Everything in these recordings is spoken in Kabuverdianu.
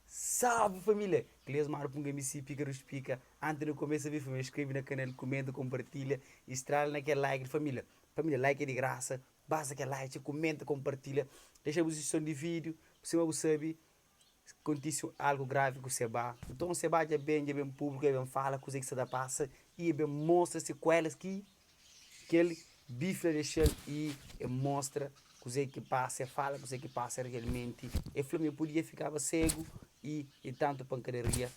Salve família! Cleus Maru Punga MC Pika Rus Pika Antes de começa vê família Escreve na canal, comenta, compartilha E estrala na kel like di família Família like é di graça Basta kel like txeu comenta, compartilha Dexa bu sujiston di vídeo Sima bu sabe Kontise algo grave ku Seba Nton Seba dja ben, dja ben públiku E ben fala kuzê ki sa ta pasa E ben mostra sekuelas ki. Kel bifla de xel i e mostra kuzé ki pasa, e fala kuzé ki pasa realmenti. E fla ma e podia fikaba ségu i di tantu pankadaria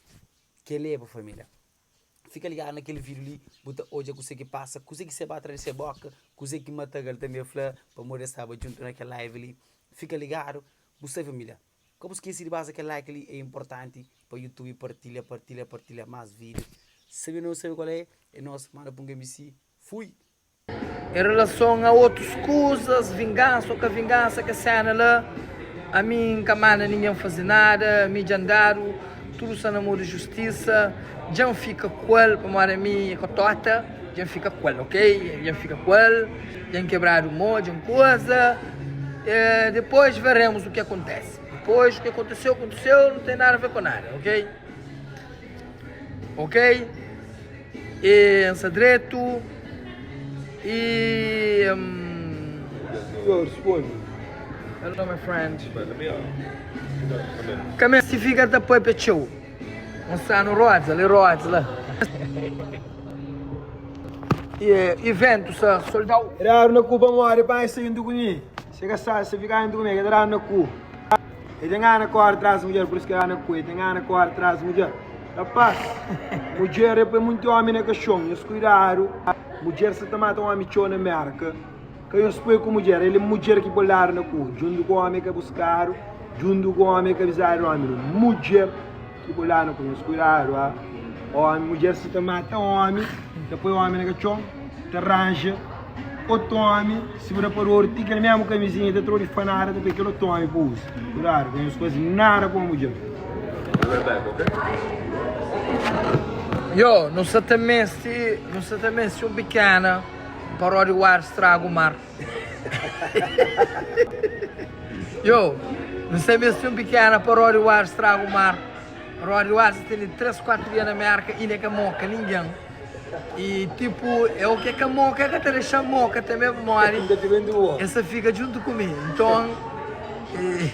ki e leba família. Fika ligadu na kel vídiu li bu ta odja kuzé ki pasa, kuzé ki sai ba atras di se bóka, kuzé ki mataga-l tanbê fla pamodi es staba djuntu na kel live li. Fika ligadu bu sai família. Ka bu skese di basa kel like li é inportanti pa youtube partilha partilha partilha mas video sabe nos sabe kual é é nos manda pa un kmc fui. Em relason a otus kuzas vingansa o ka vingansa kes sena la ami N ka manda ningen fazi nada mi dja N dadu tudu sa na mo di justisa dja N fika ku el pamodi ami e ka tota. Dja N fika ku el ok Dja N fika ku el Dja N kebradu mo Dja N kuza Dipôs verémus u ki akontese Dipôs u ki akonteseu akonteseu Nu ten nada avé ku nada ok Ok E N sta dretu E N Hello my friend Ka meste fika ta pâpia txeu Mostranu rodas ali, rodas la. E ventu sa soldau. E dadu na ku pamodi pai sa indu ku mi. Se ka sa, se fika indu ku mi, ke ta dadu na ku. E ta ngana kóda tras mudjer, pur isu ke ta dadu na ku. E ta ngana kóda tras mudjer. Rapaz, mudjer e poi monti omi na kaxon. Nhos kuidadu, mudjer sa ta mata omi txeu na Mérka. Ka nhos poi ku mudjer, el é mudjer ki bo ladu na kua, djuntu ku ómi ka buskadu, djuntu ku ómi ka bizadu di ómi, no mudjer ki bo ladu na kua. Nhos kuidadu, a ómi, mudjer si ta mata ómi, ta poi ómi na katxon, ta ranja otu ómi, si bu da pa dor, ti kel mésmu kamizinha ta trodi fanada, ta poi kel otu ómi pa uza. Kuidadu, ka nhos faze nada ku un mudjer. Yo, nu sa ta meste, nu sa ta meste un pikéna. Paródia o ar straga o mar. Yo, nu sai mes fin pikena Paródia o ar straga o mar Paródia o ar sa tene tres kuatru dia na Mérka Inda e ka moka ningen E tipu e oke ka moka e ka ta dexa moka Teme pamodi e sa fika djuntu ku mi Nton e.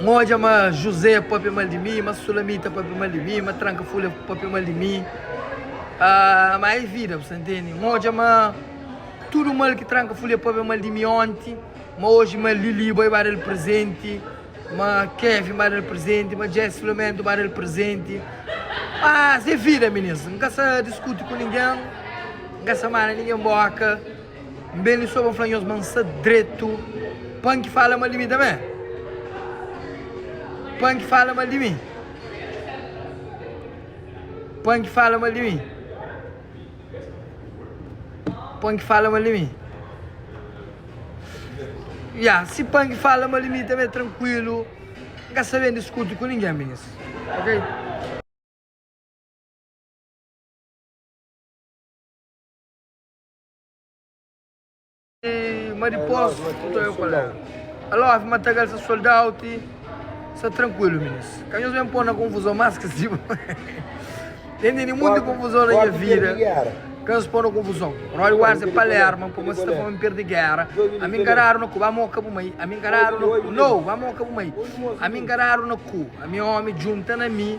N odja ma Juzé pâpia mal di mi, ma Sulamita pâpia mal di mi, ma tranka folha pâpia mal di mi. Ah, ma é vida, bu sta ntende? N odja ma tudu mal ki tranka folha pâpia mal di mi ónti, ma oji ma Lili bai ba da-l prezenti, ma Kevin ba da-l prezenti, ma Jess Filomento ba da-l prezenti. Mas é vida, minins. N ka sta diskuti ku ningen, N ka sta manda ningen bóka. N ben li so pa fla nhos ma N sta dretu pa N ki fala mal di mi tanbe, pa N ki fala mal di mi, pa N ki fala mal di mi, pa N ki fala mal di mi. Ya, si pa N ki fala mal di mi tanbe é trankuilu, N ka sta ben diskuti ku ningen minis, ok? Ma dipos ku ta oiu palavra Aló, Ave Matagal sa sold out Sa trankuilu minis Ka nhos ben po-m na konfuzon Mas ka siba Nen tene munti konfuzon na nha vida Ka nhos po-m na konfuzon Rode Wars é Palerma Puma si ta fla ma N perde géra Ami nkaradu na ku Ba moka bu mai Ami nkaradu na ku No, ba moka bu mai Ami nkaradu na ku Ami ómi djunta na mi.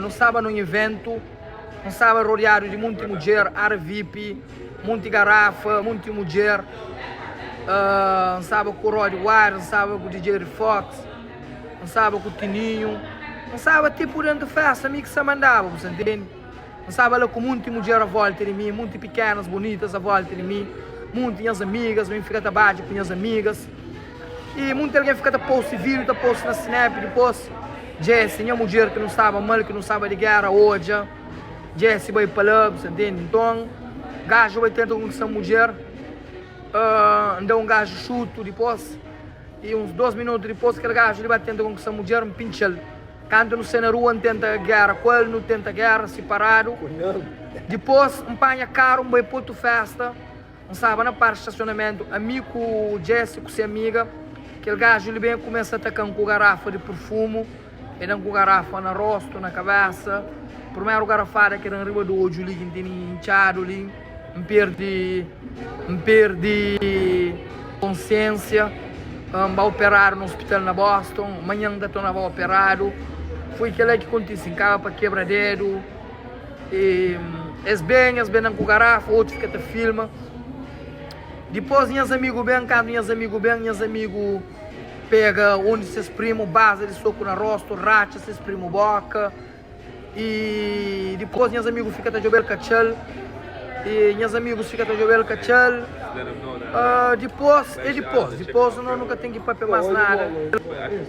Nu staba nun iventu, nu staba rodiadu di monti mudjer, ária vip, monti garafa, monti mudjer, nu staba ku Rod Wire, nu staba ku DJ Fox, nu staba ku Tininho, nu staba ti pur déntu fésta, mi ki sa mandaba, bu sa intende. Nu staba la ku monti mudjer a vólta di mi, monti pikénas bonitas a vólta di mi, monti nhas amigas, mi fika ta badja ku nhas amigas. I munti algen fika ta posti video ta posti na snap dipos Jesse nha mudjer ki nu staba mal ki nu staba di gera odja Jesse bai pa la bu ta ntende nton gajo bai tenta konkista mudjer ahh nda un gajo xutu dipos i uns dos minutu dipos kel gajo li ba tenta konkista mudjer n pintxal kantu nu sai na rua n tenta gera ku el nu tenta gera siparadu dipos n panha karu n bai pa otu festa. N staba na parki stasionamentu, ami ku Jesse ku se amiga. Kel gaju li ben kumesa ataka-m ku garafa di purfumu. El da-m ku garafa na rostu, na kabésa. Purmeru garafada ki el da-m riba di odju li ki N tene intxadu li, N perde, N perde konsiénsia. N ba operadu na ospital na Boston. Manhan N ta tornaba operadu. Foi kel-la ki kontise. N kaba pa kebra dedu. e es ben es ben dan ku garafa otus ka ta filma dipos nhas amigu ben kantu nhas amigu ben nhas amigu pega un di ses primu baza di soku na rostu ratxa ses primu boka e dipos nhas amigu fika ta djobel katxal e nhas amigus fika ta djobel katxal aa dipos e dipos dipos no nu ka ten ki papia mas nada.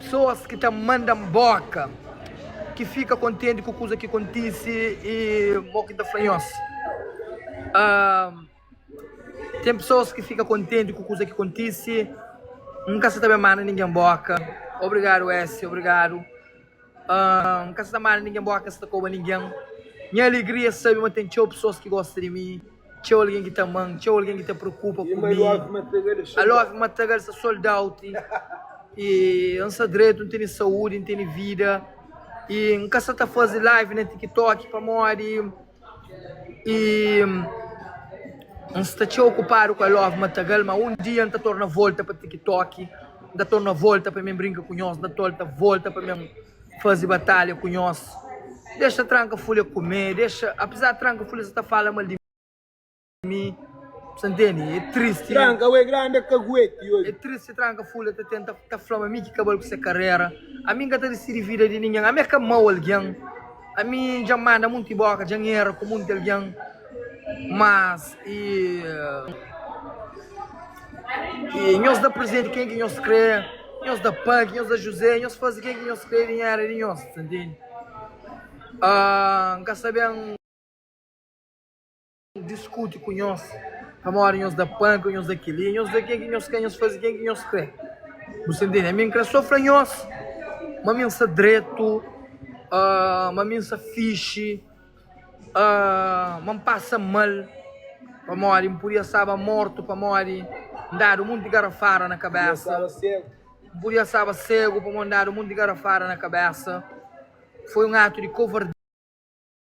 Pesoas ki ta manda-m bóka. Ki fika kontenti ku kuza ki kontise y mo ki ta fla nhos. Ten pesoas ki fika kontenti ku kuza ki kontise. N ka sta ta ben manda ningen bóka. Obrigadu Ésia, obrigadu. N ka sta manda ningen nbóra, ka sta koba ningen Nha alegria é sabe ma ten txeu pesoas ki gosta di mi Txeu algen ki ta ama-m, txeu algen ki ta preokupa ku mi I love Matagal, sa sold out I N sta dretu, N tene saúdi, N tene vida I N ka sta ta faze live na TikTok pamodi. Y N sta txeu okupadu ku I love Matagal ma un dia N ta torna volta pa TikTok N ta torna volta pa mi brinka ku nhos N ta torta volta pa mi faze batalha ku nhos Dexa tranka fule kume dexa Apezar tranka fule sa ta fala mal di mi. mi sa ntende e tristi tranka ue grandi e kagueti oi e tristi tranka ful e ta tenta ta fla ma mi ki kabal ku se karera ami nka ta disidi vida di ningen ami ka mau algen ami dja manda munti boka dja era ku munti algen mas e e nhos da presenti ken ki nhos kre nhos da paki nhos da juze nhos fazi ken ki nhos kre ningen era di nhos sa ntende nka saben. Diskuti ku nhos pamodi nhos da panka nhos da kel-li nhos da kel-li nhos ka nhos faze kel ki nhos krê bu sta intende ami n krê so fla nhos ma mi n sta dretu ma mi n sta fixi ma n pasa mal pamodi n pudia staba mortu pamodi n dadu monti garafada na kabésa n pudia staba ségu pamodi n dadu monti garafada na kabésa foi un atu di kovardia.